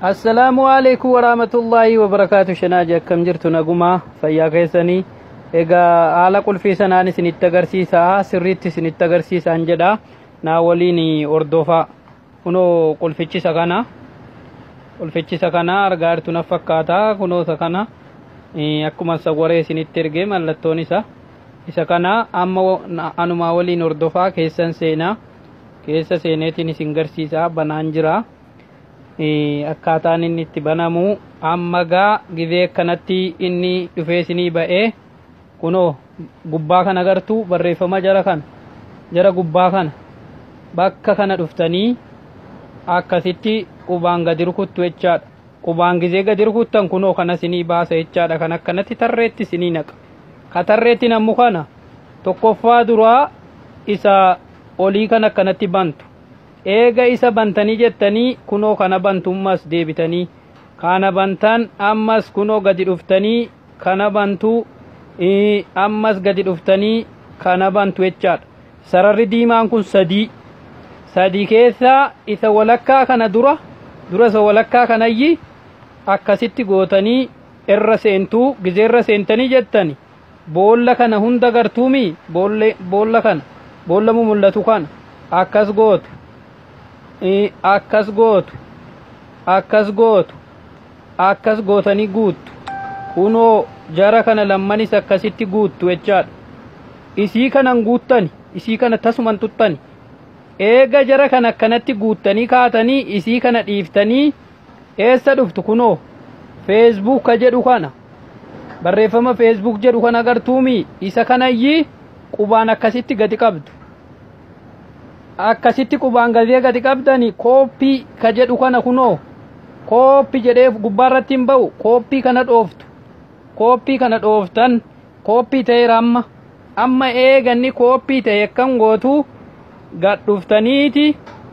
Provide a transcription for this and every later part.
Assalaamu alaikum waraamatullaahi wabarakaatu shanaaji akkam jirtu nagumaa fayyaa keessanii egaa haala qulfii sanaan isinitti agarsiisaa sirriitti isinitti agarsiisaan jedha naa waliin hordofaa kunoo qulfichisa kana qulfichisa kana argaa jirtu naf fakkaata kunoo isa kana eh, akkuma sawwaree isinitti ergee mallattoon isa isa kana amma wa- na- anumaa waliin hordofaa keessan seenaa keessa seeneetiin isin garsiisaa banaan jira. akkaataan inni itti banamu amma gaa gizee kanatti inni dhufee isinii ba'ee kunoo gubbaa kana agartuu barreeffama jara kana jara gubbaa kana bakka kana dhuftanii akkasitti qubaan gadi rukuttu jechaadha qubaan gizee gadi rukuttan kunoo kana isinii baasa jechaadha kan akkanatti tarreetti isinii naqa ka tarreetti nammu kana tokkoffaa duraa isa olii kan akkanatti bantu Eega isa bantanii jettanii kunoo kana bantu ammas deebitanii kana bantan ammas kunoo gadi dhuftanii kana bantu ammas gadi dhuftanii kana bantu jechaadha. Sararri diimaan kun sadii sadii keessaa isa walakkaa kana dura dura isa walakkaa kanayyi akkasitti gootanii irra seentuu gizee irra seentanii jettani Boolla kana hunda gartuumii? Boolla, boolla kana, boolla mumul'atu kana. Akkas gootu. I- Akkas gootu. Akkas gootu. Akkas gootanii guuttu. Kunoo jara kana lammanis akkasitti guuttu jechaadha. Isii kanan guuttani. Isii kana tasuman tuttani. Eega jara kana akkanatti guuttanii kaatanii isii kana dhiiftanii eessa dhuftu kunoo feesbuuka jedhu kana Barreeffama Facebook jedhu kan agartuumi isa kanayyi qubaan akkasitti gadi qabdu. Akkasitti qubaan gadee gadi qabdani kooppii ka jedhu kana kunoo kooppi jedhee gubbaarratti hin ba'u kooppii kana dhooftu. Kooppii kana dhooftan kooppii ta'eera amma. amma eega inni kooppii ta'e akkan gootu gad dhuftaniiti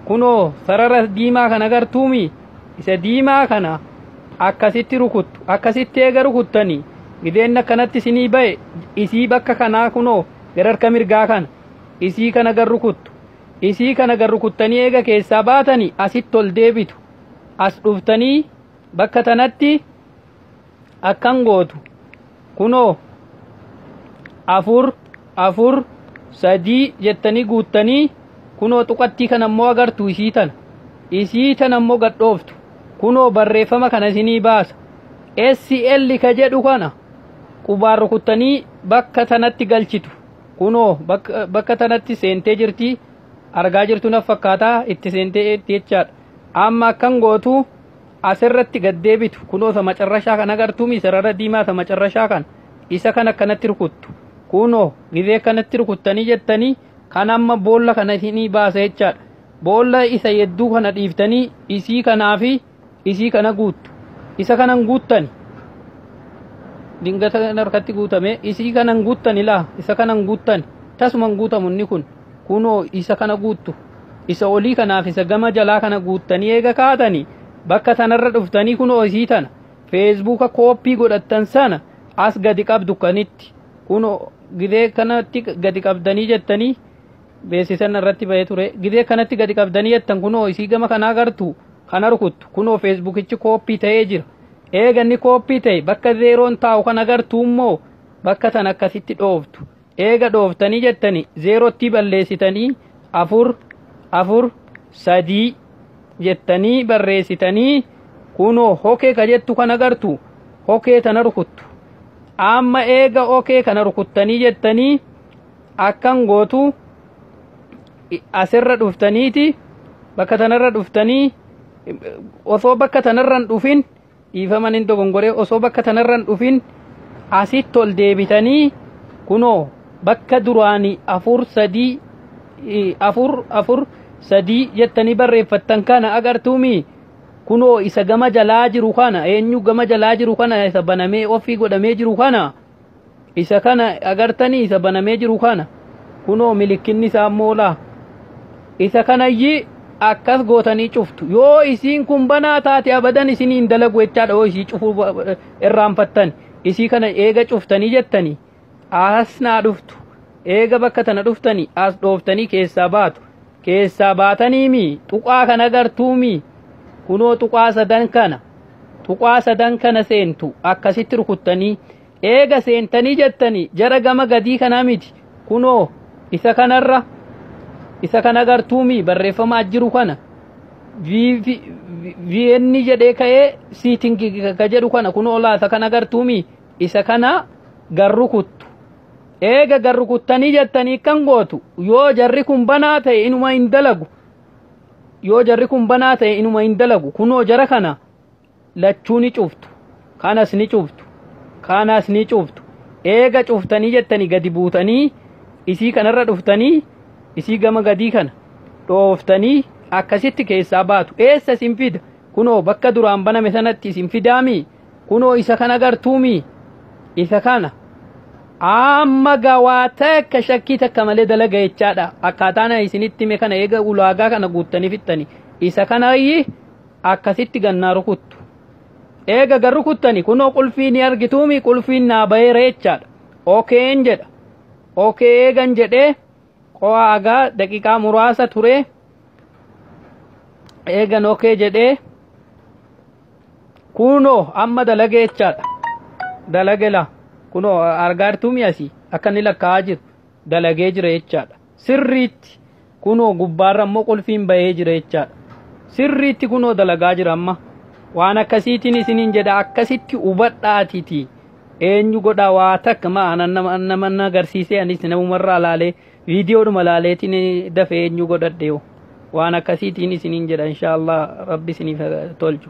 kunoo sarara diimaa kana gartuumi isa diimaa kana akkasitti rukuttu akkasitti eega rukuttanii gideen akkanatti isinii ba'e isii bakka kanaa kunoo gara harka mirgaa kana isii kana gar rukuttu isii kana gar rukuttanii eega keessaa baatanii asitti ol deebitu as dhuftanii bakka tanatti akkan gootu kunoo afur afur sadii jettanii guuttanii kunoo tuqattii kana immoo agartu isii tana isii tana immoo gadhooftu kunoo barreeffama kana isinii baasa SL ka jedhu kana qubaan rukuttanii bakka tanatti galchitu kunoo bakka tanatti seentee jirti argaa jirtu naf fakkaataa itti seentee jechaadha amma akkan gootu asirratti gad deebitu kunoo isa macarrashaa kan agartuumi sarara diimaa isa macarrashaa kan isa kan akkanatti rukuttu kunoo gizee kanatti rukuttanii jettanii kan amma boolla kana isinii baasa jechaadha boolla isa yedduu kana dhiiftanii isii kanaa fi isii kana guuttu isa kanan guuttani dingata harkatti guutame isii kanan guuttani laa isa kanan guuttani tasuman guutamu inni kun kunoo isa kana guuttu isa olii kanaaf isa gama jalaa kana guuttanii eega kaatanii bakka tanarra dhuftanii kunoo isii tana feesbuuka kooppii godhattan sana as gadi qabdu kanitti kunoo gidee kanatti gadi qabdanii jettanii beeksisan irratti bahee ture gidee kanatti gadi qabdanii jettan kunoo isii gama kanaa gartu kana rukuttu kunoo feesbuukichi kooppii ta'ee jira eeganni kooppii ta'e bakka zeeroon taa'u kana gartuu immoo bakka tan akkasitti dhooftu eega dhooftanii jettani zeerottii balleessitanii afur afur sadii jettanii barreessitanii kunoo hokee ka jettu kan agartu hokee tana rukuttu amma eega hokee kana rukuttanii jettanii akkan gootu asirra dhuftaniiti bakka tanarra dhuftanii osoo bakka tanarran dhufin Dhiifama nin dogongoree osoo bakka tanarran dhufin asitti ol deebitanii kunoo bakka duraanii afur sadii eh, afur afur sadii jettanii barreeffattan kana agartuumi kunoo isa gama jalaa jiru kana eenyu gama jalaa jiru kana isa banamee ofii godhamee jiru kana isa kana agartanii isa banamee jiru kana kunoo milikkinni isaa immoo laa isa kanayyi akkas gootanii cuftu yoo isiin kun banaa taate abadan isinii hin dalagu jechaadha yoo isii cufuu irraanfattan isii kana eega cuftanii jettanii asnaa dhuftu eega bakka tana dhuftanii as dhooftanii keessaa baatu keessaa baatanii mi tuqaa kana gartuu mi kunoo tuqaa sadan kana tuqaa sadan kana seentu akkasitti rukuttanii eega seentanii jettanii jara gama gadii kana miti kunoo isa kanarra isa kana gartuu mi barreeffamaa jiru kana viyenni jedhee ka'ee siitingi ka jedhu kana kunoo laata kana gartuu mi isa kana garru kuttu eega gad rukuttanii jettanii kan gootu yoo jarri kun banaa ta'e inuma hin dalagu yoo jarri kun banaa ta'e inuma hin dalagu kunoo jara kana lachuu ni cuftu kanas ni cuftu kanas ni cuftu eega cuftanii jettanii gadi buutanii isii kanarra dhuftanii isii gama gadii kana dhooftanii akkasitti keessaa baatu eessa isin fida kunoo bakka duraan baname sanatti isin fidaami kunoo isa kan agartuumi isa kana amma gawaa takka shakkii takka malee dalaga jechaadha akkaataan isinitti hime kana eega ulaagaa kana guuttanii fixxani isa kanayyi akkasitti gannaa rukuttu eega gan rukuttani kunoo qulfii ni argituumi qulfiin naa baheera jechaadha okeen jedha okee eegan jedhee qo'aa agaa daqiiqaa muraasa turee eegan okee jedhee Kunoo amma dalage jechaadha. Dalage laa. Kunoo argaa jirtuu mi'a asii akka inni lakkaa'aa jiru dalagee jira jechaadha. Sirriitti kunoo gubbaarra immoo qulfiin bahee jira jechaadha. Sirriitti kunoo dalagaa jira amma. Waan akkasiitiin isiniin jedha akkasitti hubadhaatiti. Eenyu godhaa waa takka ma'aana nama nama na agarsiisee anis namumarraa laalee Viidiyoodhuma laaleetiin dafee eenyu godhadheewu waan akkasiitiin isiniin jedha inshaallah rabbi isiniif tolchu.